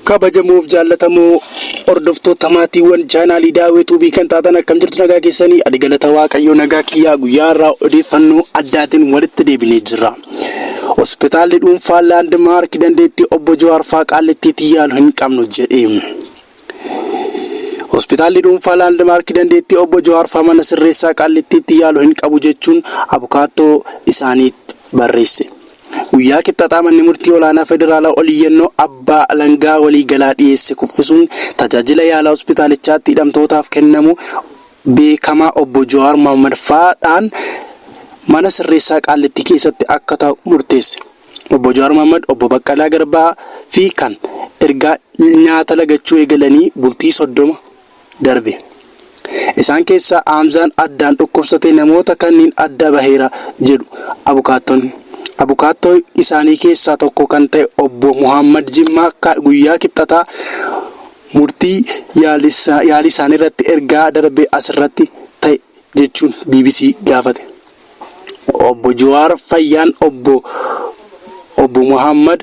kabajamuuf jaallatamoo hordoftoota maatiiwwan chaanaalii daawwee tuubii kan taatan akkam jirtu nagaa keessanii ani galata waaqayyoo nagaa kiyyaa guyyaa irraa odeeffannoo addaatiin walitti deebinee jirra. Hospitaalli dhuunfaa laandmaark dandeettii obbo Jawaar Faaqaalleettiitti yaalu hin qabnu jedhe. Hospitaalli dhuunfaa Laandmaarki dandeettii Obbo Jawaar faa mana sirreessaa Qaallittiitti yaalu hin qabu jechuun abukaattoo isaaniif barreesse. Guyyaa Kibxataa Manni Murtii Olaanaa Federaalaa oliyyannoo Abbaa Alangaa Waliigalaa dhiyeesse kuffisuun tajaajila yaalaa hospitaalichaatti hidhamtootaaf kennamu beekamaa Obbo Jawaar Mohammad faa dhaan mana sirreessaa Qaallittii keessatti akka ta'u murteesse. Obbo Jawaar Mohammad, Obbo Baqqalaa Garbaa fi kan ergaa nyaata lagachuu eegalanii bultii 30 darbe. Isaan keessaa Haamzaan addaan dhukkubsatee namoota kanniin adda baheera jedhu abukaattonni. Abukaattoo isaanii keessaa tokko kan ta'e Obbo Mohammad Jimmaa guyyaa Kibxataa murtii yaalii isaaniirratti ergaa darbe asirratti ta'e jechuun bbc gaafate. Obbo Juwaar fayyaan Obbo Obbo Mohaammad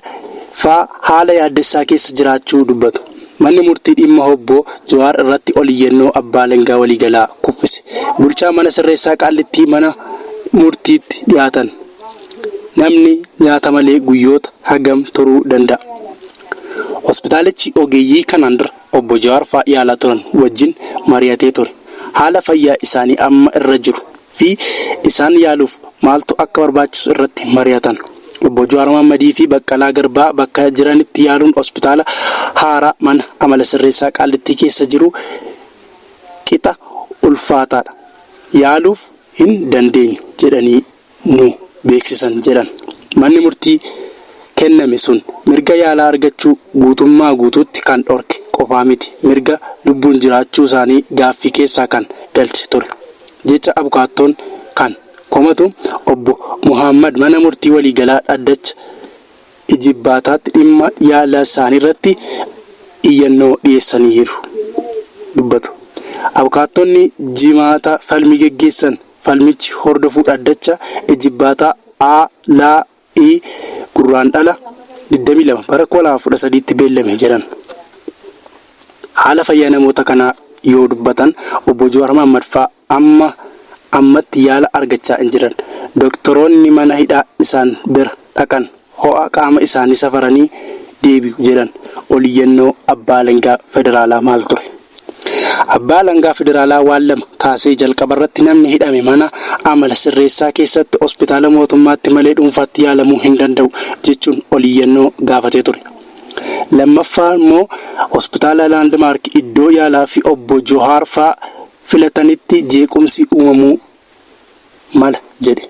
faa haala yaaddessaa keessa jiraachuu dubbatu. Manni murtii dhimma Obbo Juwaar irratti ol iyyannoo Abbaa Alangaa Waliigalaa kuffise. Bulchaa Mana Sirreessaa Qaallittii mana murtiitti dhiyaatan namni nyaata malee guyyoota hagam turuu danda'a? Hospitaalichi ogeeyyii kanaan dura. Obbo Jawaar fa'aa yaalaa turan wajjin mari'atee ture. Haala fayyaa isaanii amma irra jiru fi isaan yaaluuf maaltu akka barbaachisu irratti mari'atan. Obbo Jawaar Mohammadii fi Baqqalaa Garbaa bakka jiranitti yaaluun hospitaala haaraa mana amala sirreessaa Qaallittii keessa jiru qixa ulfaataadha. Yaaluuf hin dandeenyu jedhanii ni beeksisan jedhan. Manni murtii kenname sun mirga yaalaa argachuu guutummaa guutuutti kan dhorke qofaa miti, mirga lubbuun jiraachuu isaanii gaaffii keessaa kan galche ture jecha abukaattoon kan komatu obbo Mohaammad mana murtii waliigalaa dhaddacha ijibbaataatti dhimma yaala isaaniirratti iyyannoo dhiyeessaniiru dubbatu abukaattonni Jimaata falmii geggeessan. Falmichi hordofuu dhaddacha Ijibbaataa A, L, I Gurraandhala 22 bara 2013tti beellame jedhan. Haala fayyaa namoota kanaa yoo dubbatan Obbo Jawaar Mahaammad faa amma ammatti yaala argachaa hin jiran. Doktoroonni mana hidhaa isaan bira dhaqan. ho'a qaama isaanii safaranii deebi'u jedhan oliyyannoo Abbaa Alangaa Federaalaa maal ture? Abbaa Alangaa Federaalaa waan lama kaasee jalqabarratti namni hidhame mana amala sirreessaa keessatti hospitaala mootummaatti malee dhuunfaatti yaalamuu hin danda'u jechuun oliyyannoo gaafatee ture. Lammaffaa immoo hospitaala Laandmaark iddoo yaalaa fi obbo Johaar faa filatanitti jeequmsi uumamuu mala jedhe.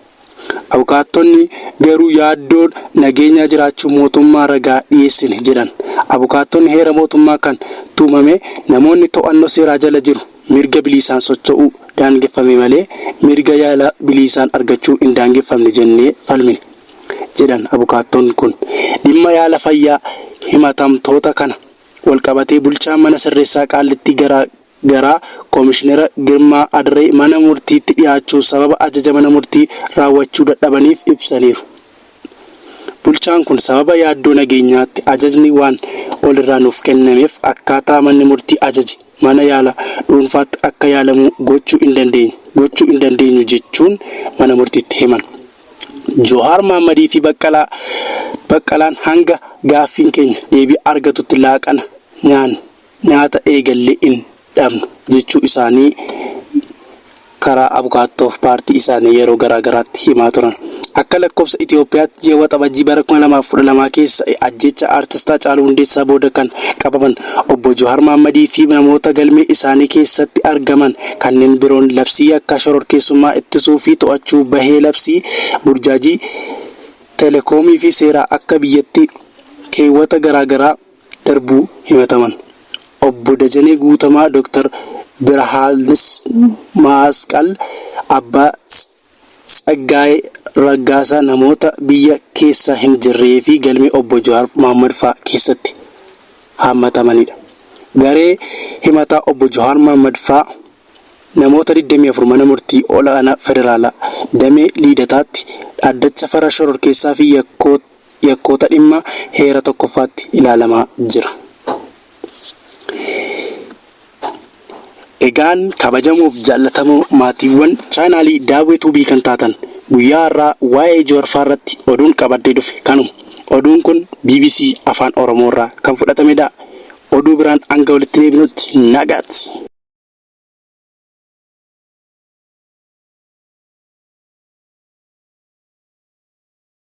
Abukaattonni garuu yaaddoon nageenyaa jiraachuu mootummaa ragaa dhiyeessine jedhan. Abukaattonni heera mootummaa kan tumame namoonni to'annoo seeraa jala jiru mirga biliisaan socho'uu daangeffame malee mirga yaala biliisaan argachuu hin daangeffamne jennee falmine jedhan abukaattoon kun. Dhimma yaala fayyaa himatamtoota kana walqabatee bulchaan mana sirreessaa Qaallittii garaa gara Komishinera Girmaa Adaree mana murtiitti dhiyaachuu sababa ajaja mana murtii raawwachuu dadhabaniif ibsaniiru. Bulchaan kun sababa yaaddoo nageenyaatti ajajni waan ol irraa nuuf kennameef akkaataa manni murtii ajaje mana yaala dhuunfaatti akka yaalamuu gochuu hin dandeenyu gochuu hin dandeenyu jechuun mana murtiitti himan. Johaar Mahammadii fi Baqqalaa Baqqalaan hanga gaaffiin keenya deebii argatutti laaqana nyaanne. Nyaata eegallee hin dhabnu jechuu isaanii karaa abukaattoo paartii isaanii yeroo garaa garaatti himaa turan. Akka lakkofsa Itiyoophiyaatti ji'a Waxabajjii bara 2012 keessa ajjeechaa Artist Hacaaluu Hundeessaa booda kan qabaman Obbo Juhaar Mahammadii fi namoota galmee isaanii keessatti argaman kanneen biroon labsii yakkaa shororkeessummaa ittisuu fi to'achuu bahee labsii burjaajii Telekoomii fi seeraa akka biyyatti keewwata garaa garaa darbuu himataman Obbo Dajanee Guutamaa, Dr. Birahaanmasqal Abbaa, Tsaggaayee Raggaasaa namoota biyya keessa hin jirree fi galmee Obbo Jawaar Mohammad fa'aa keessatti haammatamanidha. Garee himataa Obbo Jawaar Mohammad fa'aa namoota 24 Mana Murtii Ol'aanaa Federaalaa Damee Liidataatti Dhaddacha Farra Shororkeessaa fi Yakkoota yakkoota dhimma heera tokkoffaatti ilaalamaa jira. Egaan kabajamoof jaallatamoo maatiiwwan chaanaalii Daawwee Tuubii kan taatan guyyaa har'aa waa'ee Juwar faa irratti oduun qabadhee dhufe kanuma. Oduun kun bbc Afaan Oromoo irraa kan fudhatamedha. Oduu biraan hanga walitti deebinutti nagaatti!